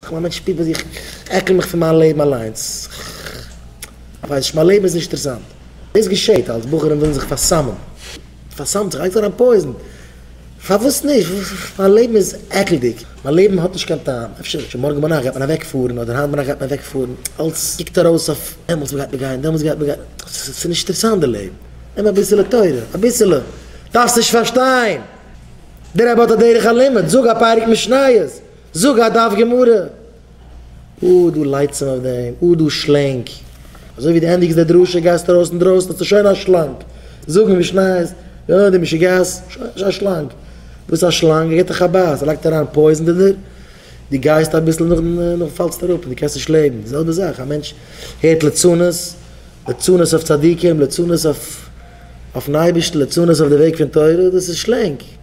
איך בין א מענטש פיפי איך עקל מיך פון מיין לעבן אליינס, איך ווייס נישט מיין לעבן איז נישט אינטערעסאנט, דאס געשעהט אלס בחורים ווילן זיך פארסאמען, פארסאמט זיך, לייגט אריין פויזן, פארוואס נישט, מיין לעבן איז עקלדיג, מיין לעבן האט נישט קיין טעם, אפשר אפשר מארגן ביינאכט גייט מען אוועק פארן, אדער היינט ביינאכט גייט מען אוועק פארן, אלס קוקט ארויס אויף דעמאלס גייט מען גיין, דעמאלס גייט מען גיין, ס'איז נישט אינטערעסאנט די לעבן, נעם אביסעלע תורה, אביסעלע, דארפסט נישט פארשטיין, דער רבי האט א דרך הלימוד, זאג אפאר משניות, זאג א דף גמרא. אה, דו לייצעם אויף דעם, אה, דו שלענג. אזוי ווי דו ענדיגסט די דרשה גייסטו ארויס אינדרויסן האסטו שוין א שלאנג. זאגן משניות, אה, דו משוגעת, שוין א שלאנג. וואס א שלאנג? ער גיט דיך א בייס, ער לייגט אריין פויזן אין דיר, דו גייסט אביסל נאכדעם נאכדעם פאלסטו אראפ און דו קענסט נישט לעבן. די זעלבע זאך, א מענטש הערט ליצנות, ליצנות אויף צדיקים, ליצנות אויף אויפן אייבערשטן, ליצנות אויף די וועג פון תורה, דאס איז שלענג.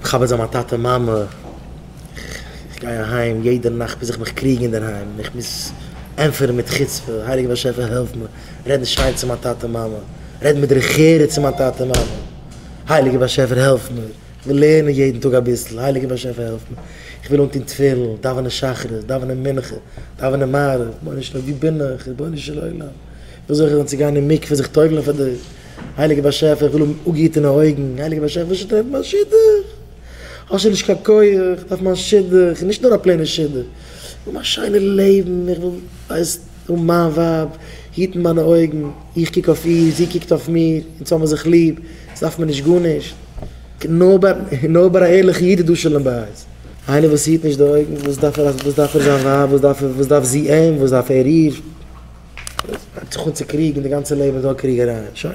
מכבד זיין מיין טאטע מאמע, איך גיי אהיים יעדע נאכט מוז איך מיך קריגן אינדערהיים און איך מוז ענטפערן מיט חוצפה, הייליגער באשעפער העלף מיר רעדן שיין צו מיין טאטע מאמע, רעדן מיט דרך ארץ צו מיין טאטע מאמע, הייליגער באשעפער העלף מיר, איך וויל לערנען יעדן טאג אביסל, הייליגער באשעפער העלף מיר, איך וויל אנטון תפילין, דאווענען שחרית, דאווענען מנחה, דאווענען מעריב, רבונו של עולם וואו בין איך, רבונו של עולם, וויאזוי זאל איך זיך אנצוגיין אין מקווה זיך טובל'ן פאר דיר. הייליגער באשעפער איך וויל האבן אפגעהיטענע אויגן, הייליגער באשעפער וואס שטערט מיין שידוך? האסט שוין נישט קיין כח, איך דארף מיין שידוך, און נישט נאר א פלעינע שידוך, איך וויל מיין שיינע לעבן, איך וויל ווייסט האבן מיין ווייב, היטן מיינע אויגן, איך קוק אויף איר, זי קוקט אויף מיר, אונז האבן זיך ליב, אונז דארף מיר נישט גארנישט. נאר ביי א ערליכע איד איז דא שלום בית, איינער וואס היט נישט די אויגן, וואס דארף ער זיין ווייב, וואס דארף זי אים, וואס דארף ער איר? הייבט זיך אן צו קריגן, די גאנצע לעבן איז נאר קריגעריי, שוין.